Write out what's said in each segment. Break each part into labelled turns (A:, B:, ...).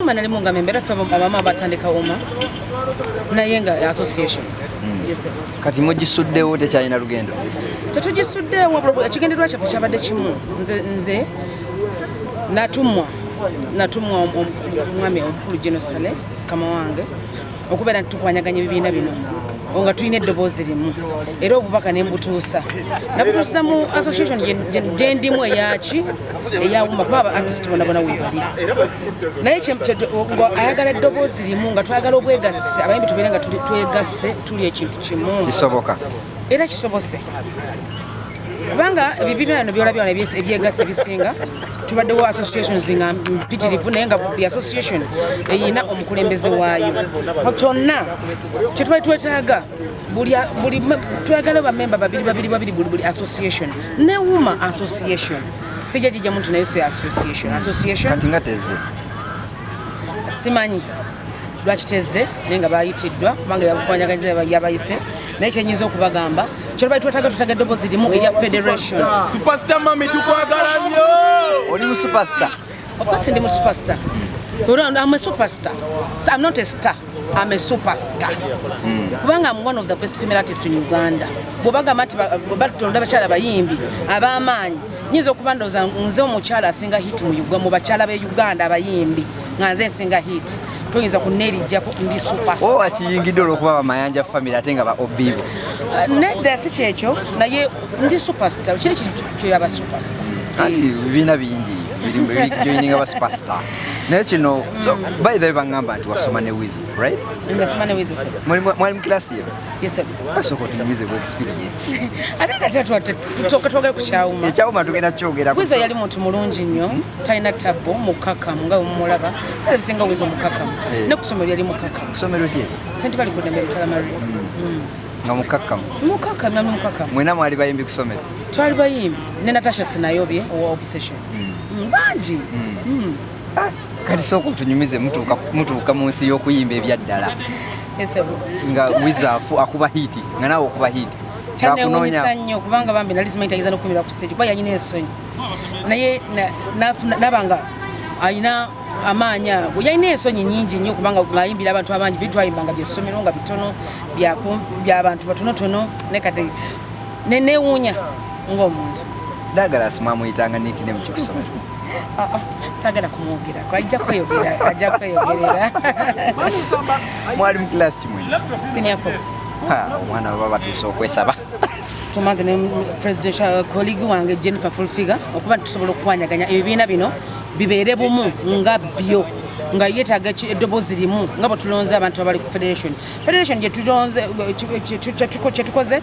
A: Mama nali mungambe mbera ffe abama batandika uma naye nga association hmm. yes kati mugisuddewo
B: tekyalina lugendo tetugisuddewo
A: ekigendererwa kyaffe kyabadde kimu nze nze natumwa natumwa omwami omukulu genosale kama wange okubeera nti tukwanyaganya ebibiina bino nga tulina eddoboozi limu era obubaka ne mbutuusa nabutuusa mu association gyendimu eyaki eyawuma kuba aba artist bonabona webali naye ayagala eddoboozi limu nga twagala obwegasse abayimbi tubeere nga twegasse tuli ekintu kimu kisoboka
B: era kisobose
A: kubanga ebibiina bino byolabye wano ebyegasa ebisinga tubaddewo associations nga mpitirivu naye nga buli association eyina omukulembeze waayo kyonna kyetubali twetaaga twagala bamemba babiri babiri babiri buli buli association newuma association sijja jijja muntu naye si association association
B: simanyi
A: lwakiteze naye nga bayitiddwa kubanga yakukwanyagaiza yabayise naye kyenyinza okubagamba kyolubali twetaga tutaga eddobozi limu erya federation supasita mami
C: tukwagala nnyo oli mu
B: supasita ofcourse ndi mu
A: supasita am a superstar so i'm not a star am a superstar hmm. kubanga am one of the best female artist in uganda bwebagamba nti batulonda abakyala bayimbi ab'amaanyi nyinza okuba ndoza nze omukyala asinga hit mu bakyala be uganda abayimbi nga nze nsinga hit toyinza kunerijjako ndi supers owo oh, akiyingidde olwokuba
B: bamayanja famiry ate nga ba obibo uh, nedda
A: si kyekyo naye ndi superstar kiri kyoyaba superstar anti bibiina
B: bingi joininga ba superstar naye kino so by the way bangamba nti wasoma ne wizo right
A: mwali mukilasi yo
B: Yes, sir. Asoko
A: tunyumize ku
B: experience. Ate tata twate
A: tutoka toka ku chauma. Ya chauma tugenda kyogera
B: ku. Wizo yali muntu mulungi nnyo,
A: talina tabbo mukaka nga umulaba. Sala bisinga wizo mukaka. Hey. Eh. Ne kusomero yali mukaka. Kusomero ki? Sente
B: bali kudembe mtala
A: Maria. Mm. Mm. Nga
B: mukaka. Mukaka na mukaka.
A: Mwena mwali bayimbi
B: kusomero. Twali bayimbi.
A: Ne Natasha sinayobye owa obsession. Mm. Mm. Banji. Mm. Mm.
B: Ah, kati sooka otunyumize mutuuka mu nsi y'okuyimba ebyaddala
A: nga wizafu
B: akuba hiiti nga naawe okuba hiiti kyanewunyisa
A: nnyo kubanga bambi nali simanyi tayinza nokukumira ku stage kuba yalina ensonyi naye nabanga alina amaanyi ago yalina ensonyi nyingi nnyo kubanga ngaayimbira abantu abangi bitwayimbanga byessomero nga bitono byabantu batonotono naye kati nenewuunya ng'omuntu dagala
B: simwamuyitanga nikinemu kikusomero Ah, ah.
A: sagala kumwogera kwajja kweyogera ajja kweyogerera
B: mwali mu class kimwe senior four
A: omwana baba
B: batuuse okwesaba tumaze ne
A: presidential colleague wange Jennifer Fulfiga okuba tusobola okukwanyaganya ebibiina bino bibeere bumu nga byo nga yetaaga eddobozi limu nga bwe tulonze abantu abali ku federation federation kyetukoze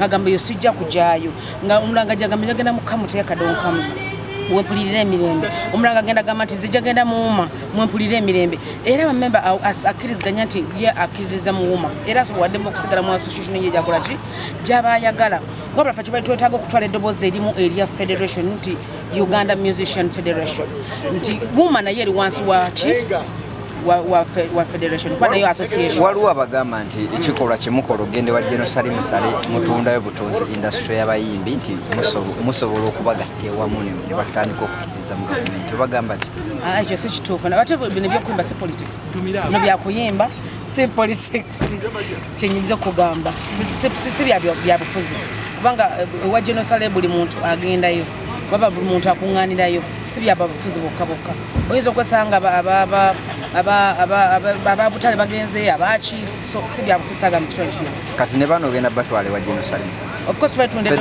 A: agamba yo sijja kujaayo nga omulanga jagamba jagenda mukamuteka kadonkamu wempulirira emirembe omulanga agenda gamba nti zija genda muwuma mwempulirira emirembe era bamemba akkiriziganya nti ye akkiririza muwuma era asobola waddemu okusigala mu association ye gyakola ki gyaba ayagala wabula fe kibali twetaaga okutwala eddoboozi erimu erya federation nti uganda musician federation nti wuma naye eri wansi waki waliwo abagamba nti
B: ekikolwa kyemukola ogende wa genosali musale mutundayo butunzi industry y'abayimbi nti musobola okubagatta ewamu ne batandika okukiriza mu gavumenti obagamba ti ah, ekyo si kituufu
A: nabate bino byokuyimba si politics no byakuyimba si politics kyenyinza okugamba si byabufuzi kubanga eh, wa genosale buli muntu agendayo baba buli muntu akuŋŋaanirayo si byababufuzi bokka bokka oyinza okwesanga ababutale bagenzeyo abaki si
B: byabufusaga
A: mu
B: kitundu kati
A: ne bano
B: ogenda
A: batwale wa
B: genocide